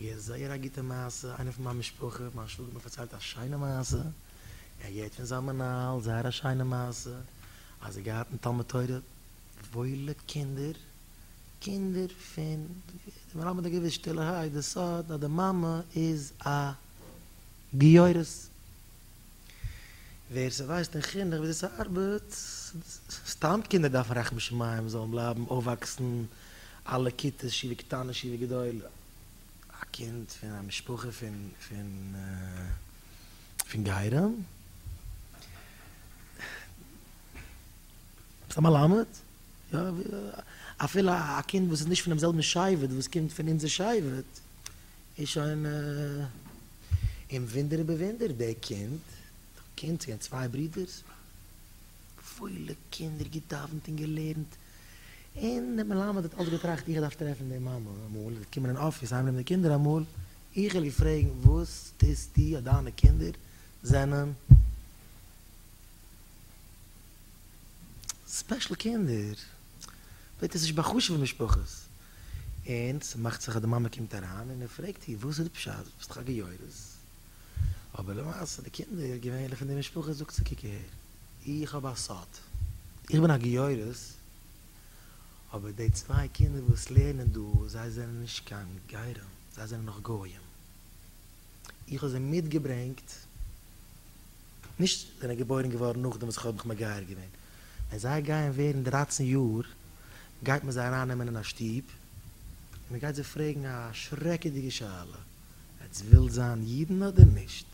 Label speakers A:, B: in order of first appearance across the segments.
A: כ'געהערט זייער א גוטע מעשה, איינער פון מיין משפחה, מיין שוואגער האט מיר פארציילט א שיינע מעשה, ער האט געהערט פון זיין מנהל זייער א שיינע מעשה, אז ער געהאט אין תלמוד תורה וואוילע קינדער, קינדער פון, די מלמד האט געוויסט שטילערהייט די סוד אז די מאמע איז א גיורת, ווער ס'ווייסט אין חינוך וויאזוי ס'ארבעט, סתם קינדער דארפן רחמי שמים זאלן בלייבן אויפוואקסן אלע כיתות שיעור קטנה שיעור גדולה. א קינד פון א משפחה פון פון גרים. ביסט א מלמד? יא. אפילו א קינד וואס איז נישט פונעם זעלבן שבט וואס קומט פון אונזער שבט איז שוין און וואונדער איבער וואונדער דער קינד קינד צו גיין צוויי ברידערס פולע קינדער געדאווענט און געלערנט און דער מלמד האט אלץ געטראכט איך דארף טרעפן די מאמע אמאל, זי קומען אין אפיס אהיימנעמען די קינדער אמאל, איך וועל איר פרעגן וואס טוסטו אז דיינע קינדער זענען ספעשל קינדער, וועט עס נישט בא'חשוב'ן משפחות, און ס'מאכט זיך אז די מאמע קומט אריין און ער פרעגט איר וואס איז די פשט דו ביסט דאך א גיורת, אבער למעשה די קינדער געווענליך אין די משפחה זאגט זי קוק אהער. איך האב א סוד. איך בין א גיורת, אבער די צוויי קינדער וואס לערנען דא, זיי זענען נישט קיין גרים, זיי זענען נאך גויים. איך האב זיי מיטגעברענגט, נישט זענען געבוירן געווארן נאכדעם וואס איך האב מיך מגייר געווען. ווען זיי גייען ווערן דרייצן יאר, גייט מען זיי ארייננעמען אין א שטוב, און מען גייט זיי פרעגן א שרעקעדיגע שאלה, עטס ווילט זיין אידן אדער נישט?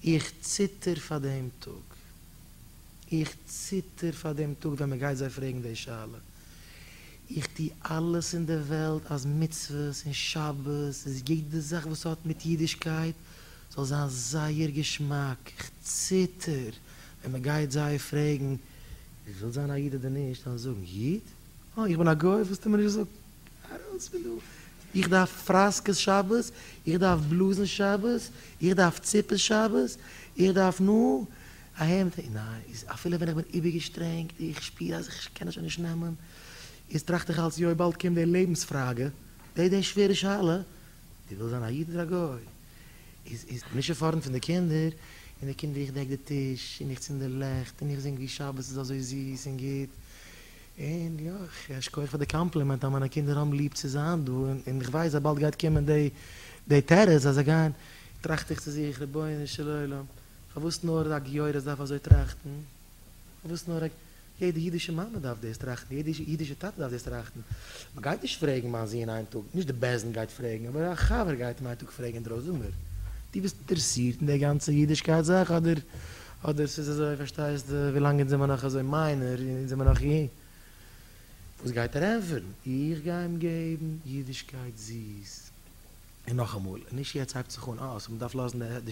A: איך ציטער פאר דעם טאג. איך ציטער פאר דעם טאג ווען מען גייט זיי פרעגן די שאלה. איך טו אלעס אין דער וועלט אז מצוות און שבת און יעדע זאך וואס האט מיט אידישקייט זאל זיין זייער געשמאק. איך ציטער ווען מען גייט זיי פרעגן, ווילסט זיין א איד אדער נישט? זיי וועלן זאגן, איד? אה, איך בין א גוי? ווילסטו מיר נישט זאגן? ארויס פון דא! איך דארף פראסקעס שבת, איך דארף בלוזן שבת, איך דארף ציפעס שבת, איך דארף נא א העמד, ניין, איז אפילו ווען איך בין איבערגעשטרענגט, איך שפיר אז איך קען עס שוין נישט נעמען, איז טראכט איך אלץ יוי באלד קומט די לעבנס פראגע, די די שווערע שאלה, דו ווילסט זיין א איד אדער א גוי? איז איז נישט עפארדן פון די קינדער, און די קינדער איך דעק די טיש, און איך צינד די לעכט, און איך זינג ווי שבת איז אזוי זיס און גוט, און יא, ייש כ פאר די קאמפלימענט אז מיינע קינדער האבן ליב צו זיין דא, און איך ווייס אז באלד גייט קומען די תירוץ אז זיי גייען, טראכט איך צו זיך, רבונו של עולם, פארוואס נאר א גיורת דארף אזוי טראכטן? פארוואס נאר א, יעדע אידישע מאמע דארף דאס טראכטן, יעדע אידישע טאטע דארף דאס טראכטן, מען גייט נישט פרעגן מיין זון איין טאג, נישט די בעש ט גייט פרעגן, אבער א חבר גייט אים איין טאג פרעגן אינדרויסן, זאג מיר, דו ביסט אינטערעסירט אין די גאנצע אידישקייט זאך אדער. אדער ס'איז אזוי פארשטייסטו ווילאנג אונז זעמער נאך אזוי מיינער אונז זעמער נאך אי וואס גייט ער ענפערן איך גיי אים געבן אידישקייט זיס און נאכאמאל און נישט יעצט הייבט זיך אן אה סאו מ'דארף לאזן די